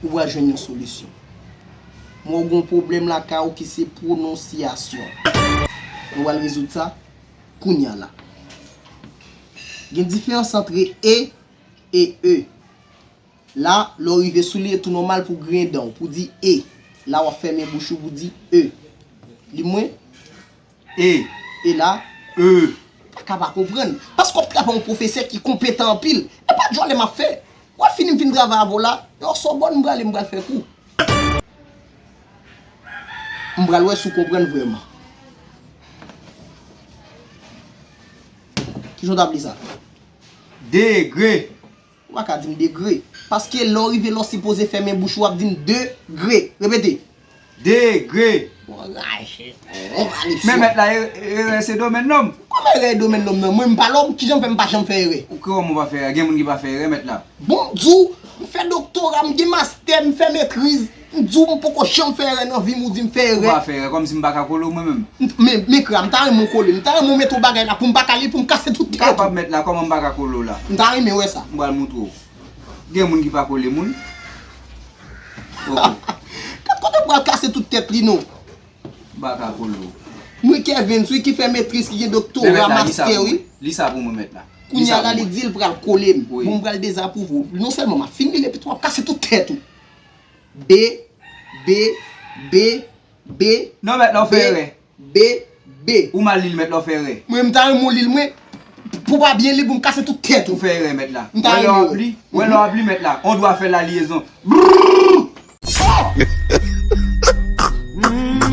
Ou pral jwenn yon solisyon. M wè w gen yon pwoblèm lakay ou ki se pwononsyasyon. Nou pral rezoud sa kounya la. Gen diferans antre e e e. La, lè w rive sou li e tou nòmal pou w griyen dan w pou w di e. La w ap fèmen bouch ou pou w di e. Li mwen? E, e la, eu paka pa konprann. Paske wap travay yon pwofesè ki konpetan anpil. E pa djòlè map fè. Wap fini m fin travay avè w la. E o Sorbonne m prale m pral fè kou. M pral wè si w konprann vrèman. Kijan w tap li sa? Degre. Ou pa ka di m degre. Paske lè w rive la w sipoze fèmen bouch ou ap di m de gre. Repete. De gre. Bon raje. Bon valipsyon. Men mèt la erè se domèn lòm. Kòman erè e domèn lòm nan? Mwen m pa lòm? Kijan w fè m pa janm fè erè? Ou kòman ou pa fè erè? Gen moun ki pa fè erè mèt la. Bon m di w, m fè doktora, m gen mastè, m fè metriz. M di w m poko janm fè erè nan vi m ou di m fè erè. Ou pa fè erè kòmsi m pa ka kole w mwen menm. Men men kra m ta renmen w kole m. M ta renmen w mete w bagay la pou m pa kale pou m kase tout kay la tou. M kapab mèt la kòman m pa ka kole w la. M ta renmen wè sa. M pral moutre w. Gen moun ki pa kole moun. Ok. Kat kote m pral kase tout tèt li non. M pa ka kole w. Mwen Kervens wi ki fè metriz ki gen doktora, mastè wi. Li sa pou mwen mèt la. Kounya la li di l pral kole m. Bon m pral dezapwouve w. Non sèlman m ap fin li men epi tou m ap kase tout tèt ou. Be, be, be, be, Non mèt la ou fè erè. be, be, be. Ou mal li l mèt la ou fè erè. Mwen m ta renmen w li l mwen pou pa byen li l pou m kase tout tèt ou. Ou fè erè mèt la. M ta renmen w. Wè lè w ap li, wè lè w ap li mèt la. On dwa fè la liyezon. Brrrr!